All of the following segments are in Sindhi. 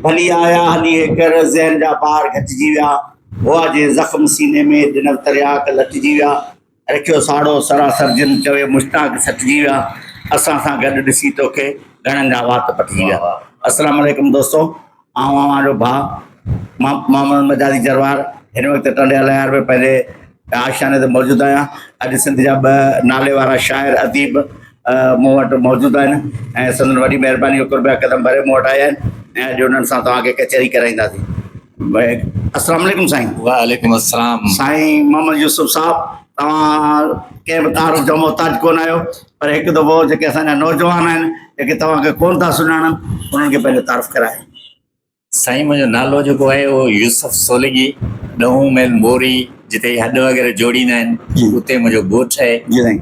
ڀلي آيا هلي هي ڪر، ذهن جا بار گهٽجي ويا هئا جي زخم سيني ۾، ڏنل ترياق لٽجي ويا، رکيو ساڙو سراسر جن، چوي مشتاق سٽجي ويا، اسان سان گڏ ڏسي توکي، گهڻن جا وات پٽجي ويا. السلام عليڪم دوستو آئون اوهان جو ڀاء محمد مجازي جروار هن وقت ٽنڊي الهيار ۾ پنهنجي مان آشياني تي موجود آهيان. اڄ سنڌ جا ٻه ناليوارا شاعر اديب مون وٽ موجود آهن ۽ سندن وڏي مهرباني جو قربيه قدم ڀري مون وٽ آيا آهن ۽ اڄ انهن سان توهان کي ڪچهري ڪرائينداسين. السلام عليڪم سائين. وعليڪم السلام. سائين محمد يوسف صاحب توهان ڪنهن به تعارف جو محتاج ڪونه آهيو پر هڪ دفعو جيڪي اسان جا نوجوان آهن جيڪي توهان کي ڪونه ٿا سڃاڻن انهن کي پنهنجو تعارف ڪرايو. سائين منهنجو نالو جيڪو آهي اهو يوسف سولنگي ڏهون ميل موري جتي هڏ وغيره جوڙيندا آهن اتي منهنجو ڳوٺ آهي جي سائين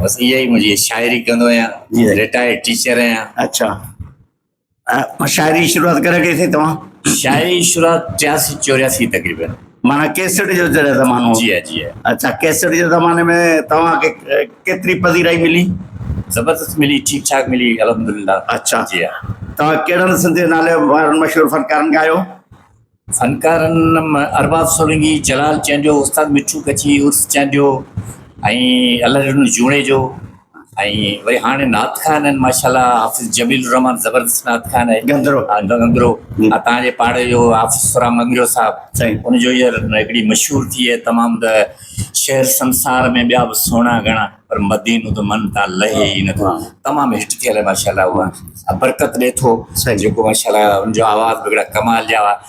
بس اها ئي منهنجي شاعري ڪندو آهيان رٽائرڊ ٽيچر آهيان اڇا شاعري شروعات ڪڏهن ڪئي سائين توهان شاعري شروعات ٽياسي چورياسي تقريبن معنيٰ ڪيسٽ جو جڏهن زمانو هو. جي آء جي آء. اڇا ڪيسٽ جي زماني ۾ توهان کي ڪيتري پذيرائي ملي؟ زبردست ملي ٺيڪ ٺاڪ ملي الحمدلله. اڇا جي آء. توهان ڪهڙن سنڌي نالي وارن مشهور فنڪارن کان آهيو؟ فنڪارن ۾ ارباب سولنگي، جلال چانڊيو، استاد مٺو ڪڇي عرس چانڊيو ۽ الله ڏنو جوڻيجو. ۽ وري هاڻي نعت خان آهن ماشاءالله حافظ جميل الرحمان زبردست نعت خان آهي گندرو ها گندرو تان جي پاڙي جو حافظ سرام منگرو صاحب سائين ان جو هي هڪڙي مشهور ٿي هي تمام ته شهر سنسار ۾ ٻيا به سهڻا گهڻا پر مدينو ته من تان لهي ئي نه ٿو تمام هٽ ٿيل ماشاءالله هو برڪت ڏي ٿو سائين جيڪو ماشاءالله ان جو آواز به هڪڙا ڪمال جا هئا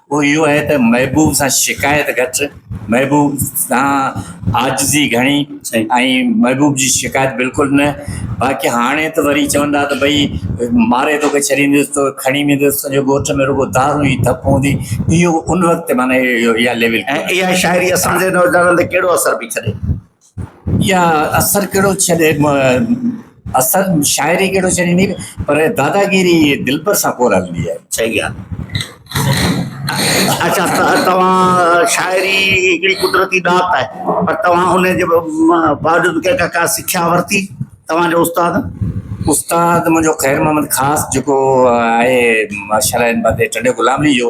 اهو اهو آهي ته محبوب سان شڪايت گهٽ، محبوب سان عاجزي گهڻي ۽ محبوب جي شڪايت بلڪل نه. باقي هاڻي ته وري چون ٿا ته ڀئي ماري توکي ڇڏيندس تو کڻي ويندس، تنهنجي ڳوٺ ۾ رڳو دارون ئي ڌپ هوندي. اهو ان وقت تي معنيٰ اها ليول ٿي وڃي. ۽ اها شاعري اسان جي نوجوانن تي ڪهڙو اثر پئي ڇڏي؟ يا اثر ڪهڙو ڇڏي اثر شاعري ڪهڙو ڇڏيندي پر داداگيري دلبر سان ڪور هلندي آهي صحيح ڳالهه اچھا توهان شاعري هڪڙي قدرتي ڏات آهي پر توهان ان جي باوجود ڪا ڪا سکيا ورتي توهان جو استاد استاد منهنجو خير محمد خاص جيڪو آهي ماشاء الله ان بندي ٽنڊي غلام علي جو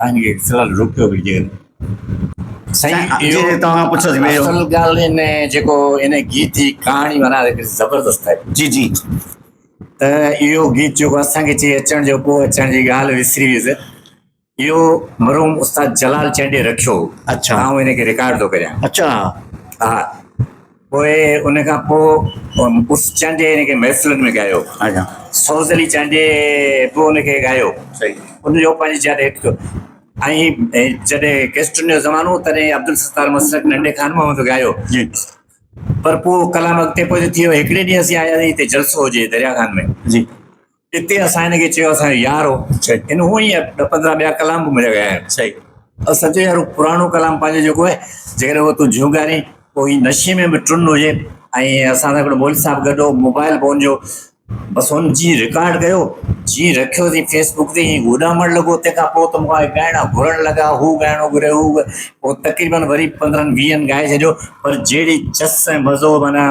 تنهنجي خلل روڪيو ويجهي. سائين اهو اصل ڳالهه هن جيڪو هن گيت جي ڪهاڻي معنيٰ زبردست آهي. جي جي ته اهو گيت جيڪو اسان کي چي اچڻ جو ڪو اچڻ جي ڳالهه وسري ويس اهو مرحوم استاد جلال چانڊيي رکيو هو اڇا آئون هن کي رڪارڊ ٿو ڪريان اڇا ها. پوء ان کان پوء اس چانڊيي هن کي محفلن ۾ ڳايو. سوز علي چانڊيي به ان کي ڳايو. ان جو پنهنجي جاء تي هٽ ٿيو. ۽ جڏهن ڪيسٽن جو زمانو هو تڏهن عبدالستار مسلڪ ننڍي خان محمد به ڳايو. پر پوء ڪلام اڳتي پوئتي ٿي ويو. هڪڙي ڏينهن اسين آياسين هتي جلسو هجي دريا خان ۾. اتي اسان هن کي چيو اسان جو يار هو هن هونء ئي ڏھ پندرهن ٻيا ڪلام به مڙهي ويا آهن صحيح او سچو يار هو پراڻو ڪلام پنهنجو جيڪو آهي جيڪڏهن اهو تون جهونگارين پوء هي نشي ۾ به ٽن هجي ۽ اسان سان هڪڙو مولوي صاحب گڏ هو موبائل به هن جو بس هن جيئن رڪارڊ ڪيو جيئن رکيو اٿئي فيس بڪ تي ائين اڏامڻ لڳو تنهن کان پوء ته مون کان ڳائڻا گهرڻ لڳا هو ڳائڻو گهري هو پوء تقريبن وري پندرهن ويهن ڳائي ڇڏيو پر جهڙي چس ۽ مزو معنيٰ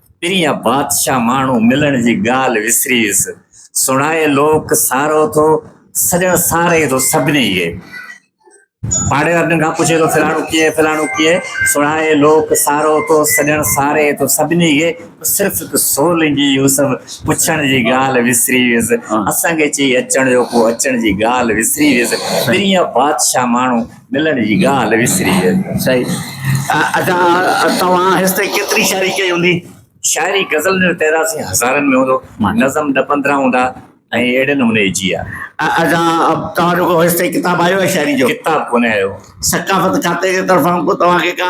پرينء بادشاهه ماڻهو ملڻ جي ڳالهه وسري ويس. سڻائي لوڪ سارو ٿو سڄڻ ساري ٿو سڀني کي. پاڙي وارن کان پڇي ٿو فلاڻو ڪيئي فلاڻو ڪيئي. سڻائي لوڪ سارو ٿو سڄڻ ساري ٿو سڀني کي. صرف هڪ سولنگي يوسف پڇڻ جي ڳالهه وسري ويس. اسان کي چئي اچڻ جو ڪو اچڻ جي ڳالهه وسري ويس. پرينء بادشاهه ماڻهو. ملڻ جي ڳالهه وسري ويل. صحيح. ادا توهان هيس تائين ڪيتري شاعري ڪئي هوندي؟ شاعري غزلن جو تعداد سائين هزارن ۾ هوندو. نظم ڏھ پندرهن هوندا ۽ اهڙي نموني جي ها. ادا توهان جو ڪو هيس تائين ڪتاب آيو آهي شاعري جو؟ ڪتاب ڪونه آيو. ثقافت کاتي جي طرفان ڪو توهان کي ڪا.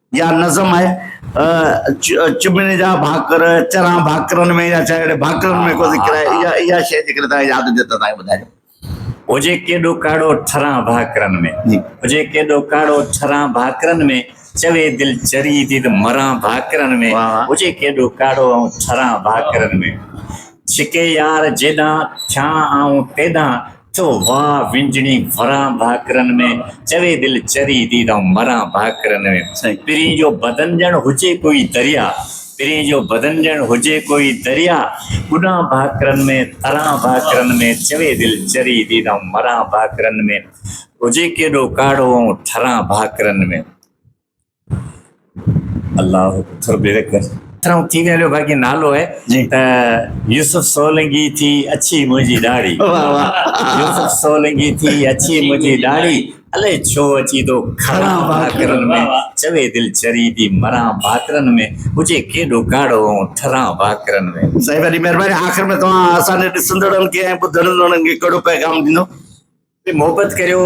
يا نظم آهي چڀڻي جا ڀاڪر چران ڀاڪرن ۾ يا چاهي ڀاڪرن ۾ ڪو ذڪر آهي يا يا شيء جي ڪري تان ياد هجي ته تان ٻڌايو هجي ڪيڏو ڪاڙو ٺران ڀاڪرن ۾ جي هجي ڪيڏو ڪاڙو ٺران ڀاڪرن ۾ چوي دل چري ديد مران ڀاڪرن ۾ هجي ڪيڏو ڪاڙو آئون ٺران ڀاڪرن ۾ ڇڪي يار جيڏان ٿيان آئون تيڏان ٿو وان وڃڻي وران ڀاڪرن ۾، چوي دل چري ٿي ته مران ڀاڪرن ۾، پرين جو بدن ڄڻ هجي ڪوئي دريا، پرين جو بدن ڄڻ هجي ڪوئي دريا، ٻڏان ڀاڪرن ۾، تران ڀاڪرن ۾، چوي دل چري ٿي ته مران ڀاڪرن ۾، هجي ڪيڏو ڪاڙهو ۽ ٺران ڀاڪرن ۾. الله ٿر بيري کر ترم تي ويلو باقي نالو ہے جي ته يوسف سولنگي تي اچي منهنجي ڏاڙي واھ واھ يوسف سولنگي تي اچي منهنجي ڏاڙي الي ڇو اچي تو کڙا باکرن ۾ چوي دل چري تي مرا باکرن ۾ هجي ڪيڏو ڪاڙو ۽ ٺرا باکرن ۾ سائين وڏي مهرباني آخر ۾ توهان اسان جي ڏسندڙن کي ۽ ٻڌندڙن کي ڪهڙو پيغام ڏيندو تي محبت ڪريو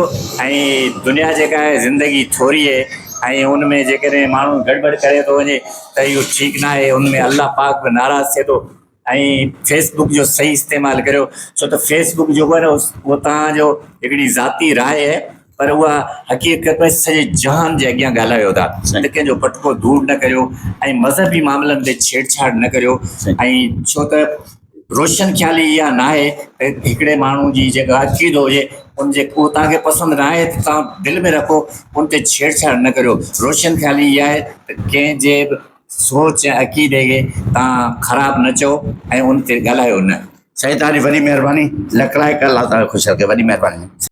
۽ دنيا جيڪا آهي زندگي ٿوري هي ۽ ان ۾ جيڪڏهن ماڻهو گڙٻڙ ڪري ٿو وڃي ته اهو ٺيڪ ناهي ان ۾ الله پاڪ به ناراض ٿئي ٿو ۽ فيس بڪ جو صحيح استعمال ڪريو ڇو ته فيس بڪ جيڪو آهي نه اهو تان جو هڪڙي ذاتي راء آهي پر اها حقيقت ۾ سڄي جهان جي اڳيان ڳالهايو ٿا ته ڪنهن جو پٽڪو دور نه ڪريو ۽ مذهبي معاملن تي ڇيڙ ڇاڙ نه ڪريو ۽ ڇو ته روشن خيالي اها ناهي ته هڪڙي ماڻهو جي جيڪا عقيدو هجي ان جي اهو توهان کي پسند ناهي ته توهان دل ۾ رکو ان تي ڇيڙ ڇاڙ نه ڪريو روشن خيالي اها آهي ته ڪنهن جي به سوچ ۽ عقيدي کي توهان خراب نه چئو ۽ ان تي ڳالهايو نه سائين توهان جي وڏي مهرباني لکلائق الله تعالي خوش رکي وڏي مهرباني